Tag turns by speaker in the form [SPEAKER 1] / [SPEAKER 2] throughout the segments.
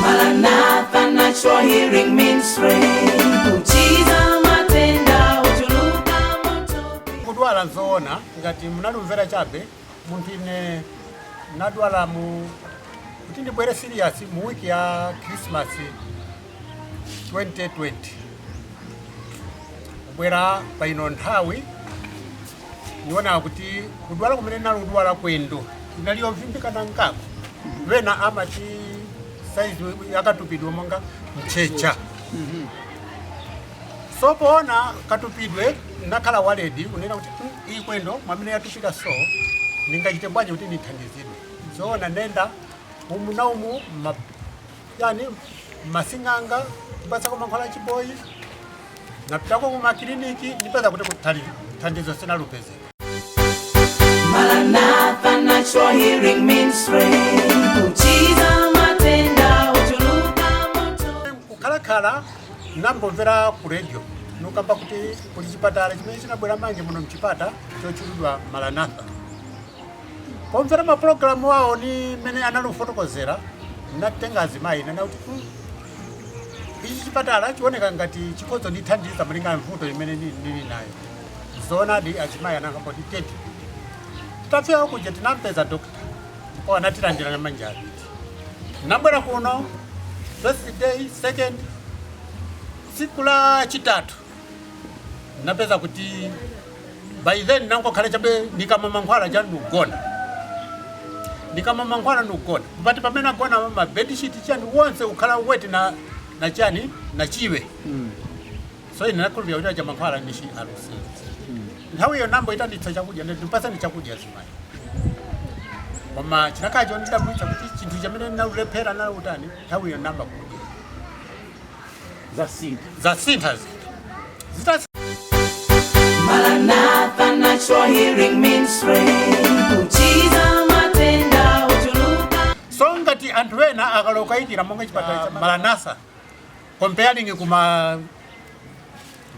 [SPEAKER 1] Maranatha Natural Healing Ministry. Kuchiza matenda ochuluka matupi. kudwala
[SPEAKER 2] nzoona ngati munalumvera chabe munthu ine nadwala mu kuti ndibwere serious mu wiki ya krismasi 2020 kubwera pa ino nthawi niona kuti kudwala kumene nali kudwala kwendo inali yovimbikana ngako wena amati saizi yakatupidwe monga mchecha so poona katupidwe nakhala worried unena kuti "Mm, iyi kwendo mwamene yatupika so ningachite bwanji kuti nithandizidwe zoona nenda umu na umu ma- chani masing'anga kupatsako mankhwala achiboyi napitako kumakiliniki ndipeza kuti thandizo sinalupeze Maranatha
[SPEAKER 1] Natural Healing Ministry. Kuchiza matenda ochuluka matupi.
[SPEAKER 2] kukhalakhala nambomvera ku radio nokamba kuti kuli chipatala chimene chinabwera manje muno m'Chipata chotchulidwa maranatha pomvera mapulogalamu awo ni mmene anali kufotokozera natenga azimayi nana kuti "Hmm, ichi chipatala chioneka ngati chikhoza ndithandiza malinga mvuto imene ni- nili nayo zoonadi azimayi anakamba kuti tete tafika kuja tinampeza dokta ndipo anatilandira na manja abiri nabwera kuno first day second tsiku la chitatu napeza kuti by then nangokhala chabe nikamwa mankhwala cha ndikugona nikamwa mankhwala ndikugona but pamene nagona ma bedsheet chani wonse ukhala wet na na chani na chiwe so ine nakhulupira kuti aja mankhwala nishi alusi nthawi iyo nambo itanitsa chakudya ndi- ndipasani chakudya zimayi koma chinakhala chondidabwitsa kuti chinthu chamene naulephera nautani nthawi iyo namba kudya zasintha
[SPEAKER 1] zinthu Maranatha Natural Healing Ministry. Kuchiza matenda ochuluka. so ngati
[SPEAKER 2] anthu ena akalokaikira monga chipatala cha maranatha comparing kuma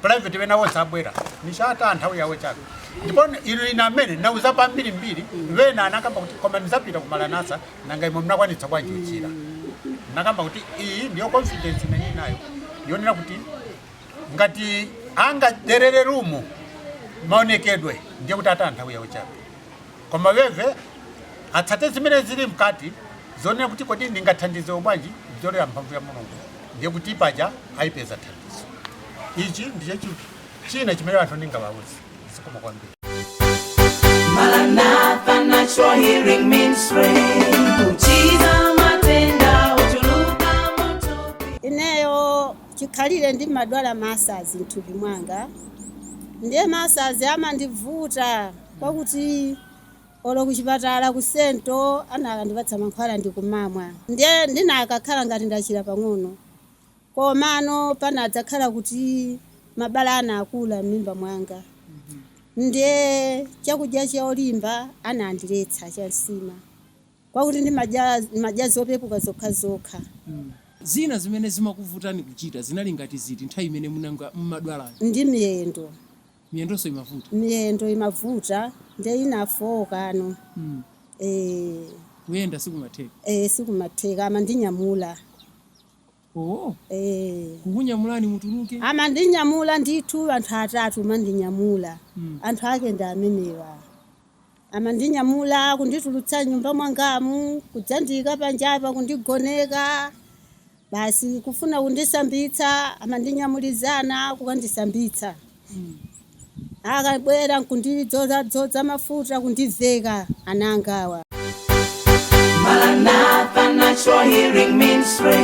[SPEAKER 2] private wena wonse abwera nishi ataya nthawi yawo chabe ndipo ilo ina amene nauza pambiri mbiri wena anakamba kuti koma nizapita ku maranatha nanga imwe mnakwanitsa bwanji uchira nakamba kuti iyi ndiyo confidence imene ninayo yonena kuti ngati angaderere rumu maonekedwe ndiye kuti ataya nthawi yawo chabe Koma iwe atsate zimene zili mkati zonena kuti kodi ndingathandizidwe bwanji kupyolera mphamvu ya Mulungu ndiye kuti paja aipeza thandizo. Ichi ndicho chinthu china chimene anthu ndingawauze. Zikomo kwambiri.
[SPEAKER 1] Maranatha Natural Healing Ministry. Kuchiza matenda ochuluka m'matupi. Ineyo
[SPEAKER 3] chikhalire ndimadwala masazi mthupi mwanga ndiye masazi amandivuta. Kwakuti olo kuchipatala ku Sento anakandipatsa mankhwala ndikumamwa nde ndinakakhala ngati ndachira pang'ono komano panadzakhala kuti mabala anakula m'mimba mwanga nde chakudya cholimba anandiletsa cha nsima kwakuti ndimadya zopepuka zokhazokha. Zina
[SPEAKER 4] zimene zimakuvutani kuchita zinali ngati ziti nthawi imene m'mene mumadwalayo? Ndi miyendo.
[SPEAKER 3] Miyendonso
[SPEAKER 4] imavuta. miyendo imavuta
[SPEAKER 3] nde inafooka ano Mm. eh,
[SPEAKER 4] Kuyenda sikumatheka. eh, sikumatheka
[SPEAKER 3] amandinyamula
[SPEAKER 4] Oh, eh, kukunyamulani mutuluke. amandinyamula
[SPEAKER 3] ndithu anthu atatu mandinyamula Mm. anthu ake ndi amenewa Amandinyamula kunditulutsa m'nyumba mwangamu, kudzandiika panjapa, kundigoneka, basi kufuna kundisambitsa, amandinyamulizana kukandisambitsa. Akabwera nkundidzozadzoza mafuta, kundiveka ana angawa.
[SPEAKER 1] Maranatha Natural Healing Ministry.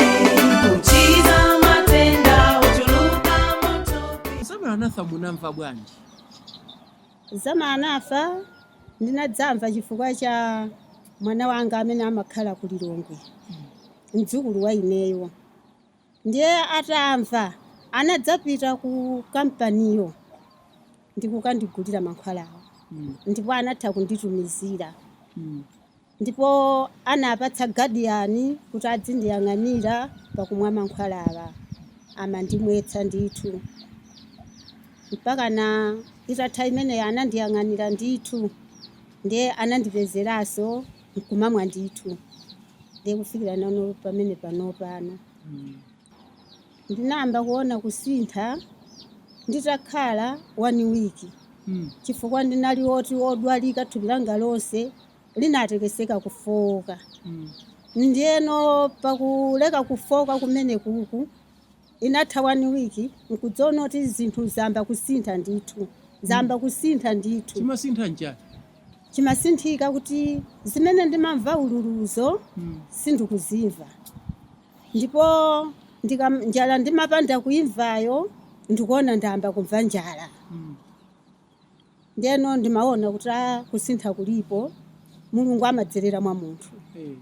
[SPEAKER 1] Kuchiza matenda ochuluka m'matupi. Za Maranatha
[SPEAKER 4] munamva bwanji?
[SPEAKER 3] Za Maranatha ndinadzamva chifukwa cha mwana wanga amene amakhala ku Lilongwe, mdzukulu wa ineyo. Ndiye atamva anadzapita ku kampaniyo ndi kukandigulira mankhwalawo ndipo anatha kunditumizira. Ndipo anapatsa guardian kuti adzindiyang'anira pakumwa mankhwalawa. Amandimwetsa ndithu. Mpakana itatha imeneyo anandiyang'anira ndithu. Ndiye anandipezeranso nkumamwa ndithu. Ndiye kufikira nano pamene panopano. Ndinayamba kuona kusintha nditakhala one week. Chifukwa ndinali oti odwalika thupi langa lonse. linatekeseka kufooka ndiyeno pakuleka kufooka kumenekuku inatha one week nkudziona kuti zinthu zayamba kusintha ndithu zayamba kusintha ndithu chimasintha
[SPEAKER 4] n'chani
[SPEAKER 3] chimasinthika kuti zimene ndimamva ululuzo sindikuzimva ndipo ndikam- njala ndimapanda kuimvayo ndikuona ndayamba kumva njala Ndeno ndimaona kuti a kusintha kulipo mulungu amadzerera mwa munthu Eh.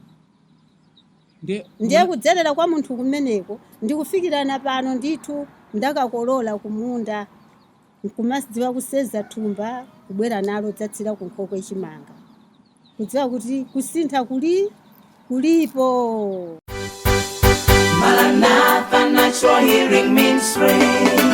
[SPEAKER 3] Ndiye kudzerera kwa munthu kumeneko ndikufikirana pano ndithu ndakakolola kumunda nkumadziwa kuseza thumba kubwera nalo dzatsira kunkhokwe chimanga kudziwa kuti kusintha kuli kulipo
[SPEAKER 1] Maranatha Natural Healing Ministry.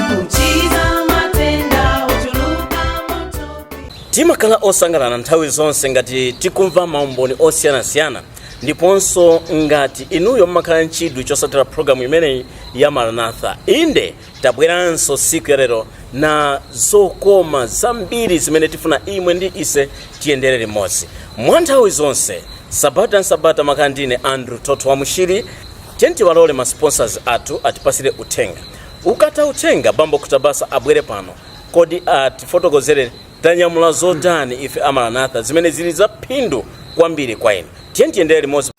[SPEAKER 1] Kuchiza matenda ochuluka m'thupi.
[SPEAKER 5] timakhala osangalala nthawi zonse ngati tikumva maumboni osiyanasiyana ndiponso ngati inuyo mumakhala nchidwi chosatira programu imeneyi ya maranatha inde tabweranso siku yalelo na zokoma zambiri zimene tifuna imwe ndi ise tiyendere limodzi mwa nthawi zonse sabata nsabata nimakhala ndine andrew toto wa mushiri tiyeni tiwalole ma sponsors athu atipasire uthenga ukatha uthenga bambo kutabasa abwere pano kodi atifotokozere Tanyamula zotani ife a Maranatha zimene zili za phindu kwambiri kwa inu? Tiyeni tiyendere limodzi.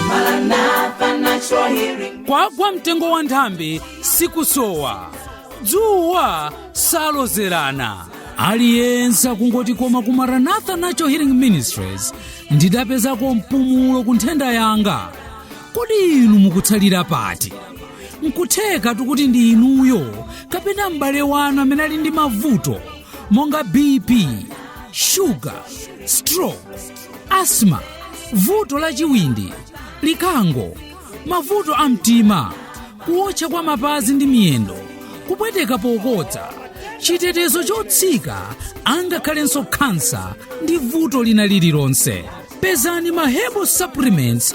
[SPEAKER 5] Maranatha
[SPEAKER 1] Natural Healing. kwagwa mtengo wa
[SPEAKER 6] nthambi sikusowa dzuwa salozerana aliyense akungoti koma ku maranatha natural healing ministries ndidapezako mpumulo ku nthenda yanga kodi inu mukutsalira pati nkutheka tikuti ndi inuyo kapena m'bale wanu amene ali ndi mavuto monga bp shuga stroke asthma vuto la chiwindi likango mavuto a mtima kuotcha kwa mapazi ndi miyendo kupweteka pokodza chitetezo chotsika angakhalenso khansa ndi vuto lina lililonse pezani ma herbal supplements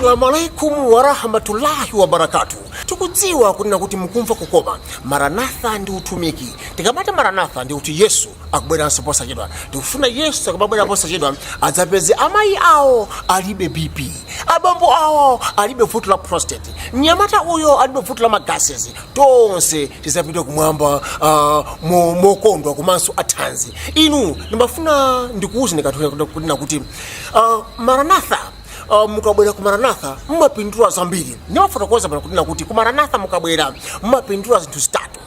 [SPEAKER 7] Assalamu alaikum warahmatullahi wabarakatu. Tikudziwa kunena kuti mukumva kukoma maranatha ndi utumiki. Tikamati maranatha ndi kuti Yesu akubweranso posachedwa. Tikufuna Yesu akamabwera posachedwa adzapeze amayi awo alibe BP, abambo awo alibe vuto la prostate, mnyamata uyo alibe vuto la ma gases. Tonse tidzapite kumwamba uh, mo- mokondwa komanso athanzi. Inu ndimafuna ndikuwuzeni kathu kunena kuti uh, maranatha Uh, mukabwera ku maranatha mumapindula zambiri ndimafotokoza pano kunena kuti ku maranatha mukabwera mumapindula zinthu zitatu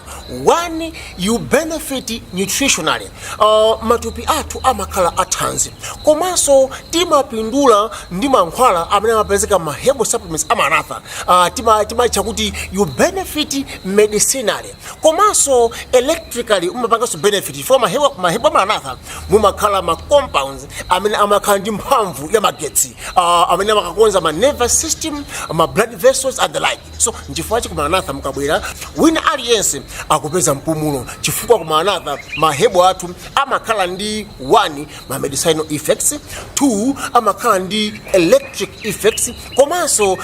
[SPEAKER 7] one you benefit nutritionally uh, matupi athu amakhala athanzi komanso timapindula ndi mankhwala amene amapezeka m'ma herbal supplements a maranatha uh, timaitcha kuti you benefit medicinally komanso electrically umapanganso benefit chifukwa mahebo a maranatha mumakhala ma compounds amene amakhala ndi mphamvu ya magetsi uh, amene amakakonza ma nervous system ma blood vessels and the like so nchifukwa chi kumaranatha mukabwera wina aliyense akupeza mpumulo chifukwa kumaranatha mahebo athu amakhala ndi one ma medicinal effects two amakhala ndi electric effects komanso uh,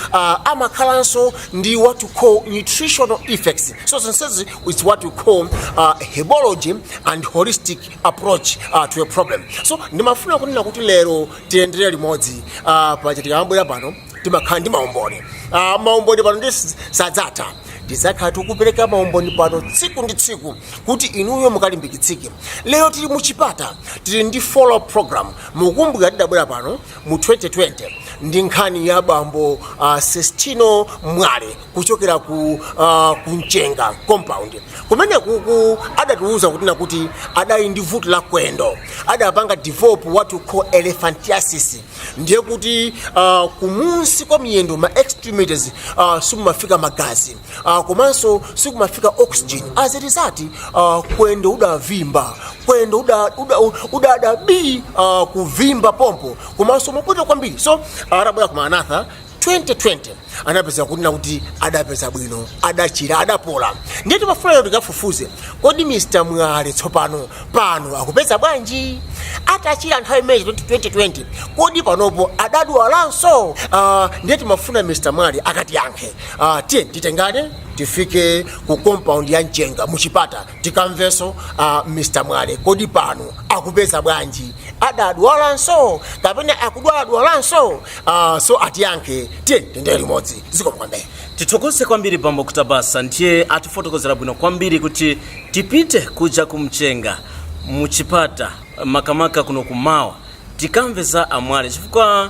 [SPEAKER 7] amakhalanso ndi what we call nutritional effects so zonsezi is what we call uh, hebology and holistic approach uh, to a problem so ndimafuna kunena kuti lero tiyendere limodzi uh, pachitika bwera pano timakhala ndi maumboni uh, maumboni pano ndi sadzatha tidzakhala tikupereka maumboni pano tsiku ndi tsiku kuti inuyo mukalimbikitsike lero tili muchipata tili ndi follow program mukumbukira tidabwera pano mu 2020 ndi nkhani ya bambo uh, sestino mwale kuchokera ku uh, kumchenga compound kumene kuku adatiuza kuti nakuti adali ndi vuto la kwendo adapanga develop what we call elephantiasis ndiye kuti uh, kumunsi kwa miyendo ma extremities uh, sikumafika magazi uh, komanso sikumafika oxygen as a result uh, kwendo udavimba kwendo udada uda, uda, uda bi uh, kuvimba pompo komanso mopota kwambiri so atabwera ku maranatha 2020 anapeza kunena kuti adapeza bwino adachira adapola ndiye timafuna kuti tikafufuze kodi mr mwale tsopano pano akupeza bwanji atachira nthawi imeneyi 2020 kodi panopo adadwalanso uh, ndiye timafuna mr mwale akatiyankhe Ah, tiye titengane tifike ku compound ya mchenga muchipata tikamvenso ah, mr mwale kodi pano akupeza bwanji adadwalanso kapena akudwaladwalanso ah, so atiyankhe tiye tiyendere limodzi zikomo kwambiri tithokoze
[SPEAKER 5] kwambiri bambo kutabasa ndiye atifotokozera bwino kwambiri kuti tipite kuja kumchenga muchipata makamaka kuno kumawa tikamve za amwale chifukwa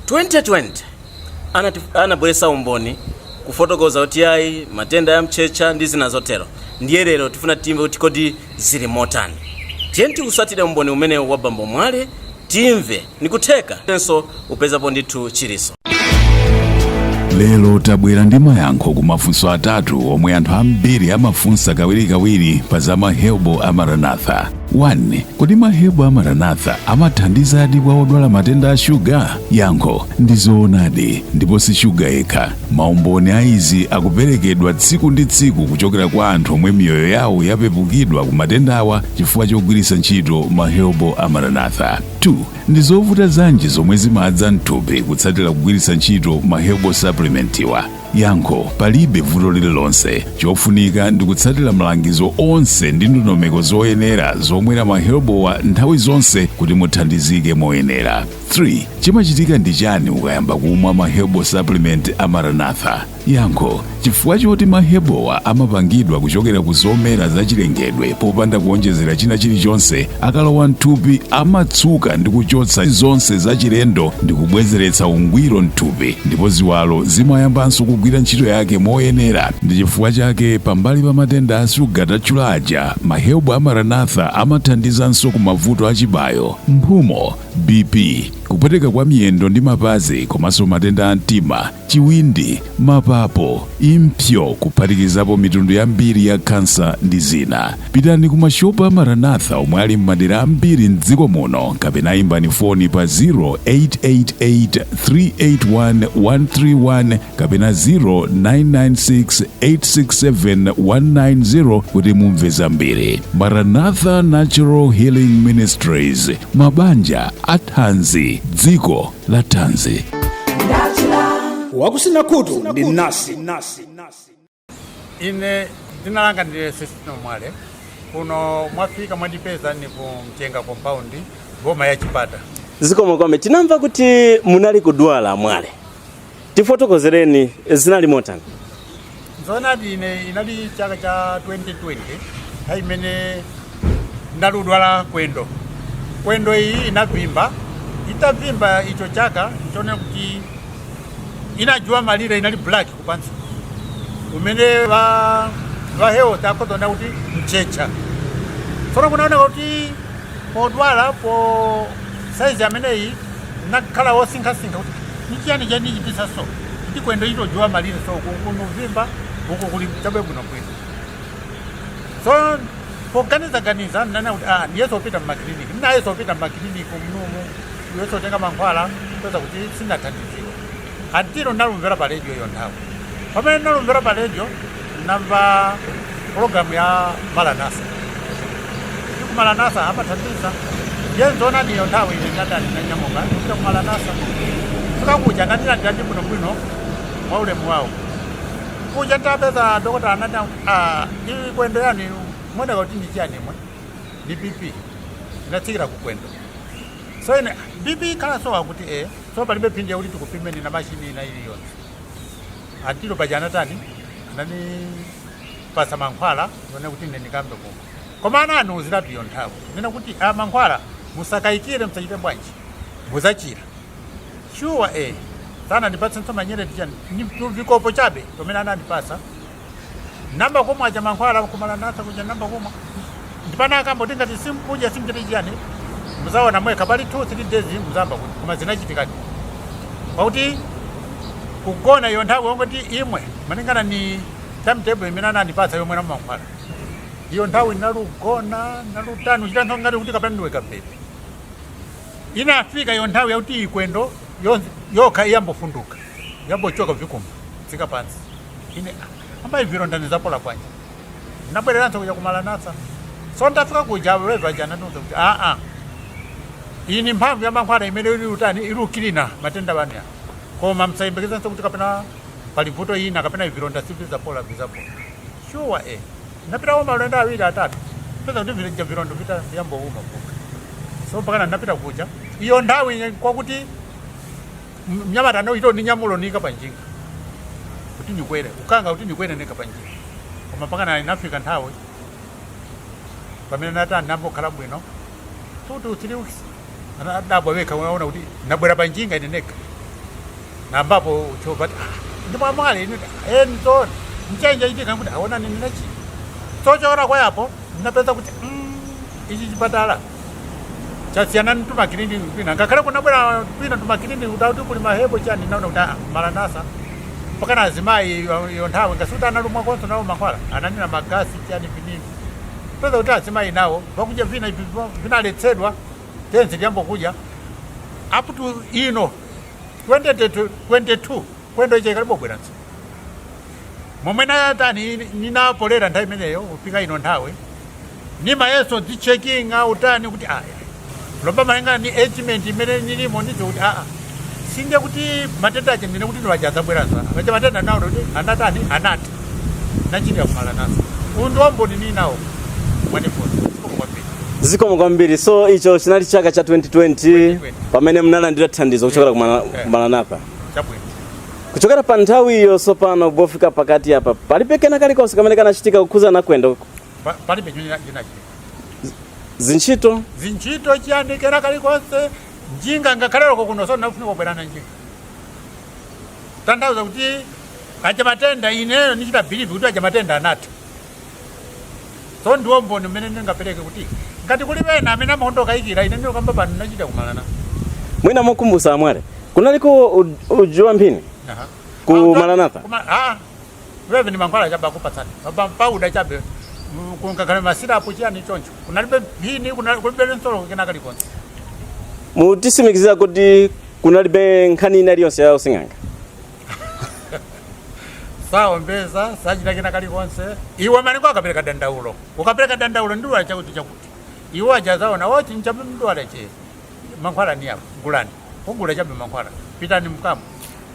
[SPEAKER 5] 2020 anabweresa umboni kufotokoza kuti ayi matenda ya mtchetcha ndi zina zotero ndiye lero tifuna timve kuti kodi zili motani tiyeni tiutsatire umboni umene wa bambo mwale timve nikutheka enanso upezapo ndithu
[SPEAKER 8] chilitso lero tabwera ndi mayankho ku mafunso atatu omwe anthu ambiri amafunsa kawirikawiri pa za mahebo a maranatha 1. Kodi mahebo a Maranatha amathandizadi kwa odwala matenda a shuga? Yankho ndi zoonadi, ndipo si shuga yekha. Maumboni a izi akuperekedwa tsiku ndi tsiku kuchokera kwa anthu omwe miyoyo yawo yapepukidwa ku matendawa chifukwa chogwiritsa ntchito mahebo a Maranatha. 2. Ndi zovuta zanji zomwe zimadza mthupi kutsatira kugwiritsa ntchito mahebo supplementiwa? yankho palibe vuto lililonse chofunika ndi kutsatira malangizo onse ndi ndondomeko zoyenera zomwera maherbalwa nthawi zonse kuti muthandizike moyenera 3 chimachitika ndi chani ukayamba kumwa maherbal supplement a maranatha yankho chifukwa choti maherbalwa amapangidwa kuchokera ku zomera zachilengedwe popanda kuonjezera china chilichonse akalowa mthupi amatsuka ndi kuchotsa zonse zachilendo ndi kubwezeretsa ungwiro mthupi ndipo ziwalo zimayambanso kugwira ntchito yake moyenera ndi chifukwa chake pambali pa matenda a shuga tatchula aja maherbal a maranatha amathandizanso ku mavuto a chibayo mphumo bp kupweteka kwa miyendo ndi mapazi komanso matenda a mtima chiwindi, mapapo, impsyo kuphatikizapo mitundu yambiri ya kansa ndi zina. Pitani ku mashopu a Maranatha omwe ali m'madera ambiri m'dziko muno kapena imbani foni pa 0888 381 131 kapena 0996 867 190 kuti mumve zambiri. Maranatha Natural Healing Ministries, mabanja athanzi, dziko la thanzi
[SPEAKER 9] wakusina khutu ndi nasi
[SPEAKER 2] ine dzina langa ndi sesitino mwale kuno mwafika mwandipeza ni ku mchenga compound boma ya chipata zikomo
[SPEAKER 5] kwambiri tinamva kuti munali kudwala mwale Tifotokozereni zinali motani?
[SPEAKER 2] Zoonadi ine inali chaka cha 2020 nthawi imene nali kudwala kwendo kwendo iyi inavimba itavimba icho chaka nchonena kuti inajuwa malire inali black kupansi umene va va health akhozonda kuti mchecha tsono kunaoneka kuti yodwala po saizi imene iyi Nakhala wosinkhasinkha kuti nichiyani chachititsa so kuti kwendo ito juwa malire so kunkunu vimba uko kuli chabe bwino bwino so poganiza ganiza nati niyese kupita mma clinic nayeso pita mma clinic mnumu nayeso tenga mankhwala peza kuti sinathandiziwe until nalumvera pa radio iyo nthawi pamene nalumvera pa radio Namva program ya Maranatha. kuti ku Maranatha amathandiza. Je, nzona niyo nthawi ine ndinanyamuka kupita ku Maranatha. Fika kuja anandilandira bwino bwino mwa ulemu wawo. Kuja napeza dokota anati ah ili kwendo yani mwenda kuti ndi chani mwe. Ndi BP. Inatsikira ku kwendo. So ine BP kala so akuti eh so palibe phindi yakuti tikupimeni na mashini ina iliyonse. Until paja anatani ananipasa mankhwala one kuti ine ndikambe koma koma ananiuzira pa iyo nthawi nena kuti a mankhwala musakayikire musachite bwanji muzachira shuwa eh sananipasenso manyereti chani ni tuvikopo chabe tomene anandipasa namba kumwa aja mankhwala ku Maranatha kuja namba kumwa ndipo anakamba tingati simkuja simchite chiyani muzaona mwekha pali 2 3 days muzamva kuti koma zinachitikadi pakuti kugona iyo nthawi yongoti imwe malingana ni timetable imene anandipatsa yomwera mankhwala iyo nthawi nalugona nalutani uchita nthawi ngati kuti kapena ndiweka pepe inafika iyo nthawi yakuti ikwendo yo- yokha iyambofunduka yambochoka vikumba tsika pansi ine amai vilonda nizapola bwanji ndinabwereranso kuja ku Maranatha so ndafika kuja wezo aja anandiuza kuti aa iyi ni mphamvu ya mankhwala imene ili utani ili ukilina matenda bani ya koma msayembekezanso kuti kapena pali vuto ina kapena ivi vilonda sivizapola vizapola shuwa e napitako maulendo awiri atatu peza kuti vija vilonda vita viyambouma kuka so mpakana napita kuja iyo nthawi kwakuti mnyamata no ito ninyamulo nika panjinga kuti ndikwere ukanga kuti ndikwere nika panjinga koma mpakana inafika nthawi pamene natani nambokhala bwino two to three weeks anadabwa wekha unaona kuti nabwera panjinga ine neka nambapo uchova kuti "Ah, ndi wa Mwale ine enzo mchenje itika kuti aona nini nachi chochokera kwayapo ndinapeza kuti mm, ichi chipatala chasiyana ni tumakiliniki kwina ngakhale kunabwera kwina tumakiliniki kuti kuli mahebo chani naona kuti ah, Maranatha mpaka na azimayi yo- yo nthawi ngasuti analumwakonso nawo mankhwala ananena magasi chani vinini peza kuti azimayi nawo vakudya vina ivi vo- vinaletsedwa tenzi liyambokudya up to ino 2022 kwendo chikalibobweranso momwe natani ninapolera nthawi imeneyo kufika ino nthawi nimayeso dzichekinga utani kuti aya lomba malinga ni agement imene nilimo ndicho kuti aa singe kuti matenda aja ndine kuti ndiye aja adzabweranso aja matenda nawo kuti anatani anati nachirira ku Maranatha uyu ndi umboni ninawo mwanifoni kwambiri
[SPEAKER 5] zikomo kwambiri so icho chinali chaka cha 2020 pamene munalandira thandizo kuchokera ku Maranatha chabwino kuchokera pa nthawi iyo sopano pofika pakati apa palibe kena kalikonse kamene kanachitika kukhuza na kwendo Pa- palibe chimene
[SPEAKER 2] chinachitika zintchito zintchito chiyani kena kalikonse njinga ngakhale loko kuno so ndinafunika kubwera na njinga tanthauza kuti aja matenda ineyo ndichita believe kuti aja matenda anatha so ndiwo umboni umene ndingapereke kuti ngati kuli wena amene amadokayikira ine ndinokamba pano ndinachira ku Maranatha mwina
[SPEAKER 5] mokumbusa a Mwale kunaliko u- uji wa mphini? Aha. Ku Pauda- Maranatha? kuma- ah,
[SPEAKER 2] wewe ni mankhwala chabe akupatsani Pa- pauda chabe mm, kungokhala masirapu chiyani choncho kunalibe mphini kuna- kulibe nsolo kena kalikonse
[SPEAKER 5] mutisimikizira kuti kunalibe nkhani ina iliyonse ya using'anga
[SPEAKER 2] saombeza sachita kena kalikonse iwe malinga ukapereka dandaulo ukapereka dandaulo nidwala chakuti chakuti iwe ajazaona oti nchabe mudwala chabe mankhwala ni yapo gulani ugula chabe mankhwala pitani mkamwe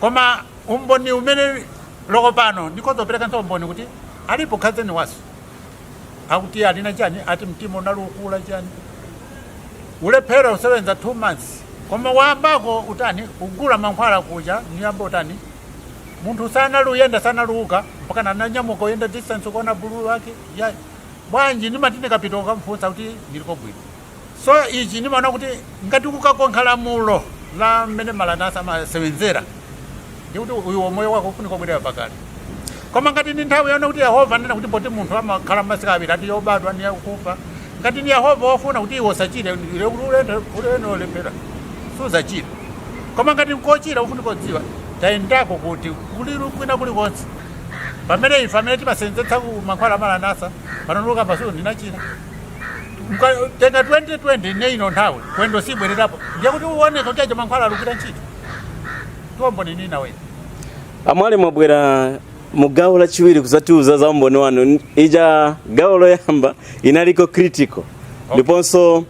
[SPEAKER 2] koma umboni umene uliko pano ndikuzoperekanso umboni kuti alipo khazeni wanga akuti alina chani ati mtima unalukula chani ulephera usebenza two months koma wayambako utani ugula mankhwala kuja niyamba utani munthu sanaluyenda sanaluuka mpaka naanyamuka uyenda distance kuona bulu wake ya bwanji nimati nikapita ukamfunsa kuti niliko bwino so ichi ndimaona kuti ngati ukakonkha lamulo la mmene Maranatha amasewenzera ndi kuti uyu moyo wako ufunika kubwerera pakale koma ngati ndi nthawi yonena kuti Yehova wanena kuti poti munthu amakhala masiku awiri ati yobadwa ndi yakufa ngati ndi Yehova wafuna kuti iwe usachire ule- ulendo ulendo olephera suzachira koma ngati nkochira ufunika kudziwa tayendako kuti kuli kwina kulikonse pamene ife amene timasewenzetsako mankhwala a Maranatha pano nulukapo asuro ndinachira kutenga 2020 na ino nthawi kwendo sibwererapo ndiye kuti uoneka kuti aja mankhwala alugwira ntchito Tonthozani naye a
[SPEAKER 5] Mwale mwabwera mu gawo lachiwiri kuzatiuza za umboni wanu ija gawo loyamba inaliko critical ndiponso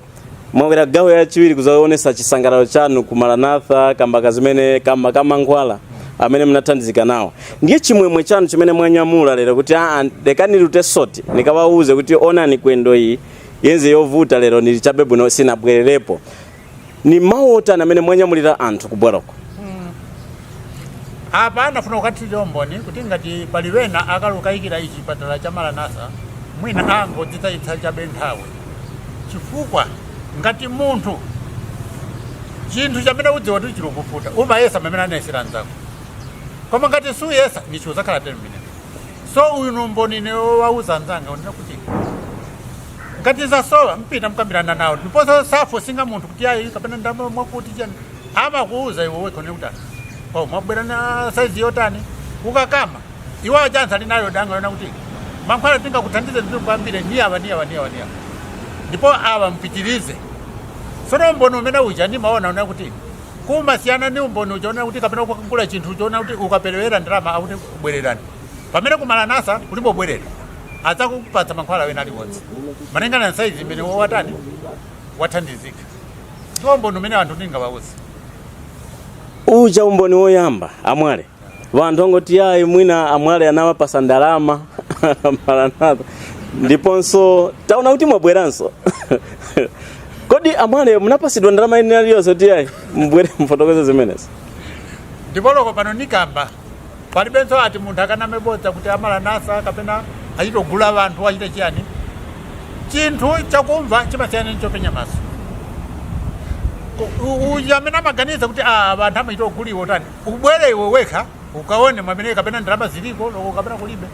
[SPEAKER 5] mwabwera gawo yachiwiri kuzaonesa chisangalalo chanu ku maranatha kamba kazimene kamba kamankhwala amene munathandizika nawo ndiye chimwemwe chanu chimene mwanyamula lero kuti aa lekani nilute soti nikawauze kuti onani kwendo iyi yenze yovuta lero nili chabe bwino sinabwererepo ni mawu otani amene mwanyamulira anthu kubwerako
[SPEAKER 2] apa nafuna kukathirira umboni kuti ngati pali wena akalukayikira ichi chipatala cha maranatha mwina angodzitayitsa chabe nthawi chifukwa ngati munthu chinthu chamene udziwa kuti chilikufuta umayesa mamene anayesera nzako koma ngati suyesa ndichi udzakhala tele mmenemo so uyu ni umboni nimauza anzanga unena kuti ngati zasowa mpita mkambirana nawo ndiponso sa forcinga munthu kuti ayi kapena ndama mwakuti chani amakuuza iwe wekha unena kuti "Ah, oh mwabwera na saizi yotani ukakamba iwo achanza ali nayo danga yonena kuti mankhwala tingakuthandize ndi kwambiri ni awa ni awa ni awa ni awa ndipo awa mpitirize sono umboni umene uja ndimaona unena kuti Kumasiyana ndi umboni uja wonena kuti kapena kukagula chinthu choonena kuti ukaperewera ndalama akuti kubwererani. Pamene ku Maranatha kulibe kubwerera, adzakupatsa mankhwala ena aliwonse malingana ndi saizi imene iwe watani wathandizika. Ndiwo umboni umene anthu ndingawauze.
[SPEAKER 5] Uja umboni woyamba, amwale. vanthu angoti yayi mwina amwale anawapasa ndalama a Maranatha ndiponso taona kuti mwabweranso kodi amwale munapasidwa ndalama ina iliyonse kuti yayi mbwere mufotokoze zimenezi ndipo
[SPEAKER 2] loko pano nikamba palibenso ati munthu akaname bodza kuti amaranatha kapena achitogula vanthu achite chiyani chinthu chakumva chimasiyana ndi chopenya maso Ku- u- uyu amene amaganiza kuti "Ah, vanthu amachitoguliwa utani ubwere iwe wekha ukaone mwamene kapena ndalama ziliko loko kapena kulibe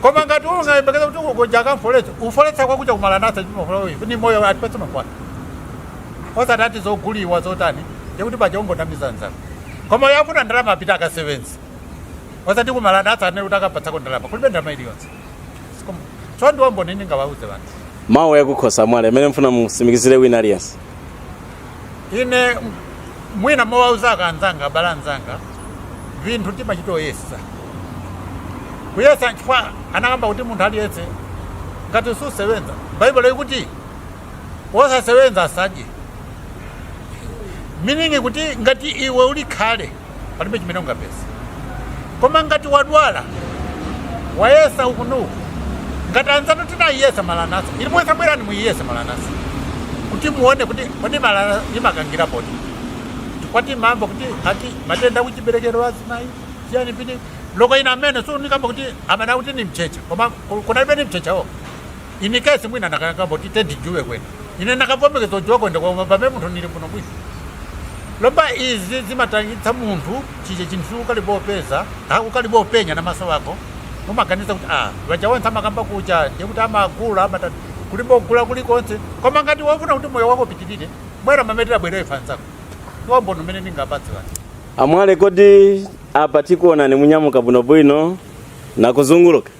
[SPEAKER 2] koma ngati ungayembekeza kuti ugoja akamfoletsa ufoletsa kwakucha ku Maranatha chimafulawivi ni moyo atipatse mankhwala osati ati zoguliwa zotani ndikuti paja ungonamiza nzako koma yafuna ndalama apita akasevenzi osati ku Maranatha anene kuti akapatsako ndalama kulibe ndalama iliyonse so ndiwo umboni ningawauze vanthu mawu yakukhosi
[SPEAKER 5] amwale amene mfuna musimikizire wina aliyense
[SPEAKER 2] ine mwina mowauzaka anzanga abale anzanga vinthu timachitoyesa kuyesa nchifukwa anakamba kuti munthu aliyense ngati susewenza baibulo ikuti wosasewenza asadye meaning kuti ngati iwe uli khale palibe chimene ungapeze koma ngati wadwala wayesa uku nuku ngati anzanu tinayiyesa Maranatha ilipo isa bwerani muyiyese Maranatha kuti muone kuti kodi Maranatha imakangira poti tikwati mambo kuti ati matenda akuchiberekero azimayi chiyani pini loko ina amene sunikamba kuti amene akuti ni mchecha koma kunalibe ni mchecha wo Ine kesi mwina nakayanga boti tedi juwe kwene. Ine nakabombe kezo juwa kwende kwa umba me muntu nili mpuno mwisi. Lomba izi zima tangita muntu chije chintu ukali bo pesa. Ha ukali bo penya na maso wako. Uma kanisa kuti ah. Waja wanta makamba kuja. Ndiye kuti ama gula ama tatu. Kuli bo gula kuli konse. Kwa mangati wafuna kuti moyo wako pitilile. Mwera mametila bwere ifansa. Kwa mbono mene ninga bati wani. Amwale kodi
[SPEAKER 5] apa tikuonani munyamuka bwinobwino nakuzunguluka.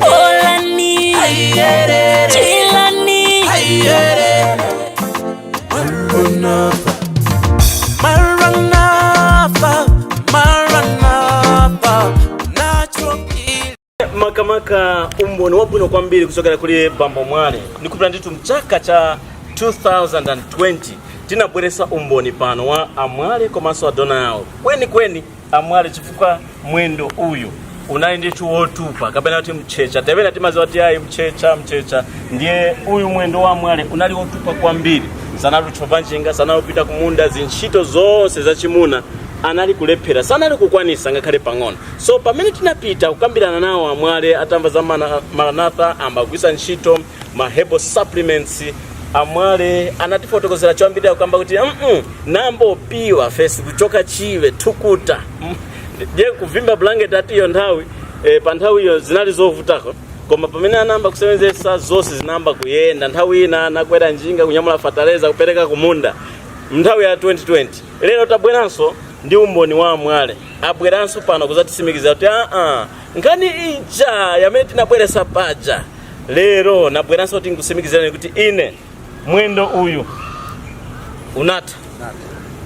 [SPEAKER 1] Olani, Chilani, Maranatha, Maranatha, nachokili.
[SPEAKER 5] makamaka umboni wabwino kwambiri kuchokera kuli bambo mwale ndikupita ndithu mchaka cha 2020 tinabweresa umboni pano wa amwale komanso adona yawo kweni kweni amwale chifukwa mwendo uyu unali ndithu wotupa kapena kuti mchecha tepena timaziwa kuti ayi mchecha mchecha ndiye uyu mwendo wa amwale unali wotupa kwambiri sanali kutchova njinga sanali kupita kumunda zintchito zonse zachimuna anali kulephera sanali kukwanisa ngakhale pang'ono so pamene tinapita kukambirana nawo amwale atamva za maranatha ambagwisa ntchito ma herbal supplements amwale anatifotokozera choyambirira kukamba kuti mm nambopiwa fesi kuchoka chibe thukuta Mm. je kuvimba blanket ati iyo nthawi e, pa nthawi iyo zinali zovutako koma pamene anayamba kusewenzesa zonse zinayamba kuyenda nthawi ina anakwera njinga kunyamula fataleza kupereka kumunda mnthawi ya 2020 lero tabweranso ndi umboni wa amwale abweranso pano kuzatisimikizira kuti aa nkhani ija yamene tinabweresa paja lero nabweranso kuti ndikusimikizirani kuti ine mwendo uyu unatha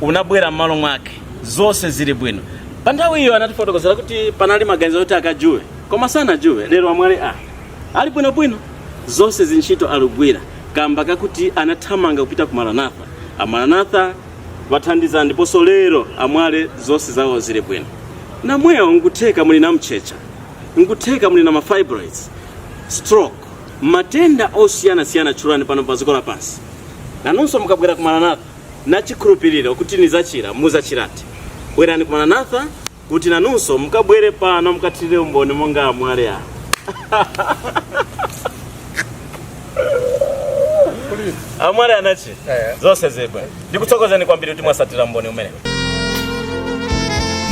[SPEAKER 5] unabwera m'malo mwake zonse zili bwino pa nthawi iyo anatifotokozera kuti panali maganizo oti akajuwe koma sanajuwe lero amwale ali bwinobwino zonse zintchito akugwira kamba kakuti anathamanga kupita ku maranatha amaranatha awathandiza ndiponso lero amwale zonse zawo zili bwino namwewo nkutheka muli na mtchetcha nkutheka muli na ma fibroids stroke matenda osiyanasiyana tchulani pano pa dziko lapansi nanunso mukabwera ku maranatha na chikhulupiriro kuti nizachira muzachirati bwerani ku maranatha kuti nanunso mukabwere pano mukathirire umboni monga amwale awo amwale anachira zonse zibwe ndikuthokozeni kwambiri kuti mwasatira umboni umene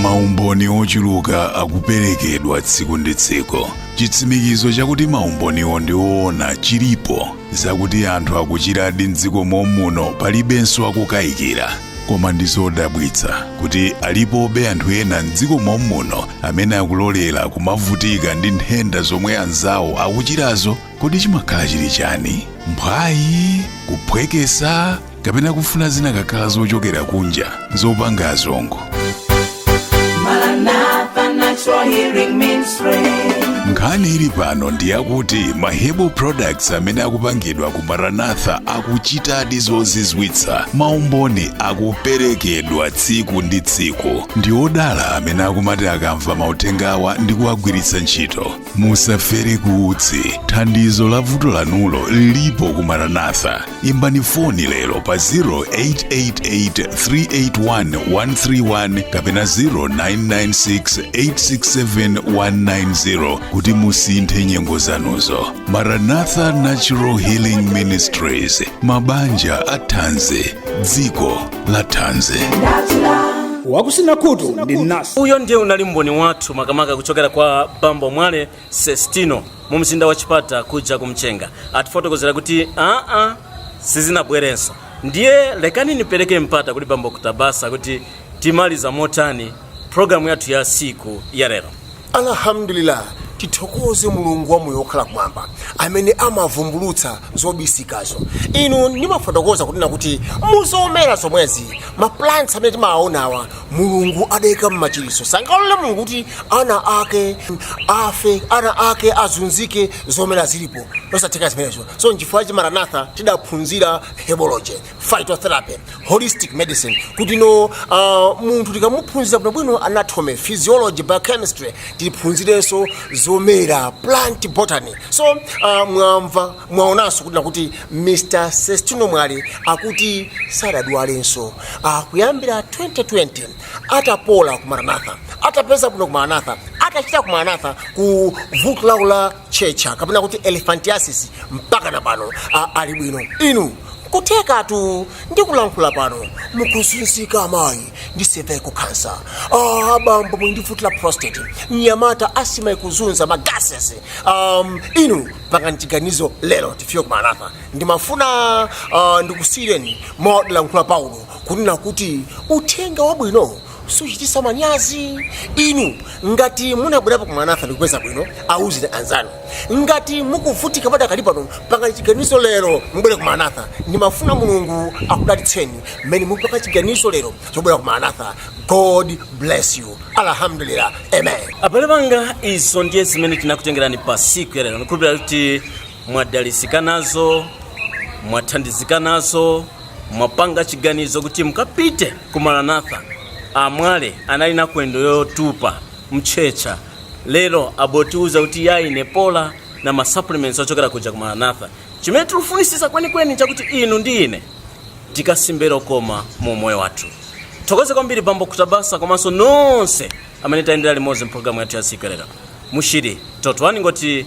[SPEAKER 8] maumboni ochuluka akuperekedwa tsiku ndi tsiku chitsimikizo chakuti maumboniwo ndi oona chilipo zakuti anthu akuchiradi mdziko momuno palibenso wokukayikira koma ndi zodabwitsa kuti alipobe anthu ena mdziko momuno amene akulolera kumavutika ndi nthenda zomwe anzawo akuchirazo kodi chimakhala chili chani mphwayi kuphwekesa kapena kufuna zinakakhala zochokera kunja zopanga azungu Maranatha
[SPEAKER 1] Natural Healing Ministry. nkhani ili
[SPEAKER 8] pano ndi yakuti ma herbal products amene akupangidwa ku maranatha akuchitadi zozizwitsa maumboni akuperekedwa tsiku ndi tsiku ndi odala amene akumati akamva mauthengawa ndi kuwagwiritsa ntchito musafere ku utsi thandizo la vuto lanulo lilipo ku maranatha imbani foni lero pa 0888381131 kapena 0996867190 kuti musinthe nyengo zanuzo maranatha natural healing ministries mabanja athanzi dziko la
[SPEAKER 9] thanzi wakutsina khutu ndi mnasi uyo ndiye unali umboni
[SPEAKER 5] wathu makamaka kuchokera kwa bambo mwale sestino mu mzinda wa chipata kuja kumchenga atifotokozera kuti aa sizinabwerenso ndiye lekani nipereke mpata kuli bambo kutabasa kuti timaliza motani programu yathu ya siku ya lelo
[SPEAKER 7] alhamdulillah tithokoze mulungu wamoyo wokhala kumwamba amene amavumbulutsa zobisikazo inu ndimafotokoza kunena kuti muzomera zomwezi maplants amene timawaonawa mulungu adayika m'machiliso sangalole mulungu kuti ana ake afe ana ake azunzike zomera zilipo zosatheka zimenezo so nchifukwa ku Maranatha tidaphunzira herbology phytotherapy holistic medicine kuti no uh, munthu tikamuphunzira bwinobwino anatomy physiology biochemistry tiphunzirenso zomera plant botany so uh, mwamva mwaonanso kuti nakuti mr sestino mwale akuti sadadwalenso uh, kuyambira 2020 atapola ku maranatha atapeza bwino ku maranatha atachira ku maranatha ku vuto lawo la ntchetcha kapena kuti elephantiasis mpaka na pano uh, ali bwino inu kuthekatu ndikulankhula pano mukuzunzika amayi ndi cervical cancer ah, abambo muli ndi vuto la prostate mnyamata asthma ikuzunza ma gases um, inu pangani chiganizo lero mufike ku maranatha ndimafuna uh, ndikusiyireni mwa kulankhula paulo kunena kuti uthenga wabwino suchitisa manyazi inu ngati munabwerapo ku maranatha ndikupeza bwino awuzeni anzanu ngati mukuvutika padakali pano pangani chiganizo lero mubwere ku maranatha ndimafuna mulungu akudalitseni mmene mukupanga chiganizo lero chobwera ku maranatha god bless you alhamdulillah amen abale
[SPEAKER 5] banga izo ndiye zimene tinakutengerani pa siku ya lero ndikhulupirira kuti mwadalisika nazo mwathandizika nazo mwapanga chiganizo kuti mukapite ku maranatha amwale anali na kwendo yotupa mtchetcha lero abotiuza kuti yayi ine napola na masupplements ochokera kuja ku maranatha chimene tikufunisisa kwenikweni chakuti inu ndi ine tikasimbe lokoma mu umoyo wathu tithokoze kwambiri bambo kutabasa komanso nonse amene tayendera limodzi mpulogalamu yathu ya siku lero mushiri totwani ngoti